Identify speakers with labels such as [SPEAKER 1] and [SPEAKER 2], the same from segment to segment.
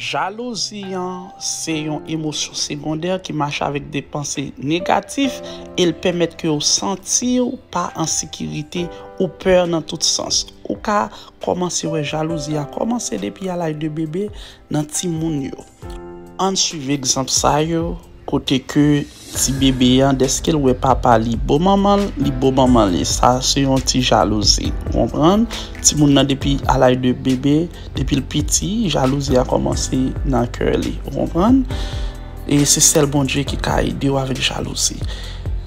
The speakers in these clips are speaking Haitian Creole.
[SPEAKER 1] Jalouzi an se yon emosyon segondè ki mache avèk de panse negatif e l pèmèt ke w santi w pa an sekirite, ou pè nan tout sans. Ou ka kòmanse wè jalouzi a kòmanse depi a laj de bebe, nan timoun yo. Ann swiv egzanp sa yo kote ke ti bebe an deske l wè papa li bo manman l, li bo manman li. Sa se yon ti jalouzi. Ou konprann? Timoun nan depi a laj de bebe, depi l piti, jalouzi a kòmanse nan kè li. Ou konprann? E se sèl Bondye ki ka ede w avèk jalouzi.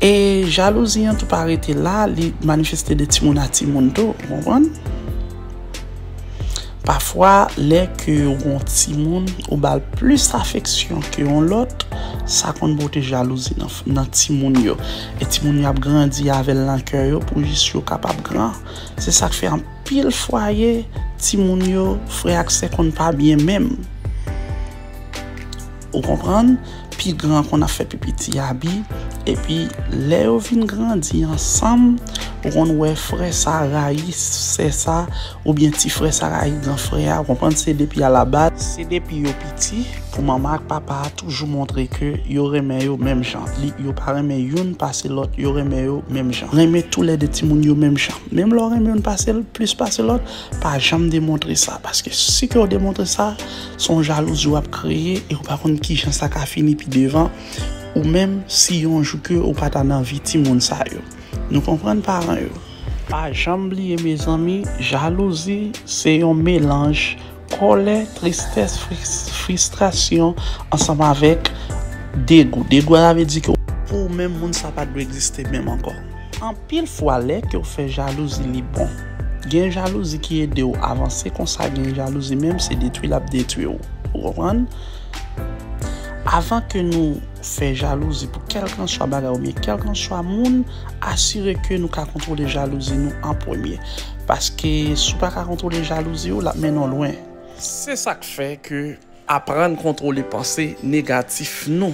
[SPEAKER 1] E jalouzi an tou pa rete la, li manifeste de timoun a timoun tou. Ou konprann? Pafwa lè ke ou gen yon timoun ou bal plis afeksyon ke yon lòt, sa konn pote jalouzi nan timoun yo. E timoun yo ap grandi avèl nan kè yo pou jis yo kapab gran. Se sak fè anpil fwaye timoun yo, frè ak sè konn pa byen menm. Ou konprann? Pi gran an konn ap fè pi piti a abi, epi lè yo vin grandi ansanm, ou konn wè frè sa rayi sè sa, oubyen ti frè sa rayi gran frè a, ou konprann? Se depi a la baz, se depi yo piti, pou manman ak papa a toujou montre ke yo renmen yo menm jan, yo pa renmen youn pase lòt, yo renmen yo menm jan. Renmen tou lè de timoun yo menm jan. Menm lè w renmen youn pase l, plis pase lòt, pa janm demontre sa, paske si ke w demontre sa, Son jalouzi wap kreye e ou pa konn kijan sa ka fini pi devan ou menm si yon jou ke ou pata nan vi ti moun sa yo nou konprann paran yo. Pa janm bliye mezanmi jalouzi se yon melanj kòlè tristès fristrasyon ansanm avèk degou degou a sa vle di ke pou ou menm moun sa pat dwe egziste menm ankò. Anpil fwa lè kew fè jalouzi li bon. Gen jalouzi ki edew avanse konsa gen jalouzi menm se detwi lap detwiw ou konprann. Avan ke nou fè jalouzi pou kelkanswa bagay oubyen kelkanswa moun asire ke nou ka kontwole jalouzi nou an premye. Paske si w paka kontwole jalouzi w lap mennen w lwen. Se sak fè ke aprann kontwole panse negatif nou.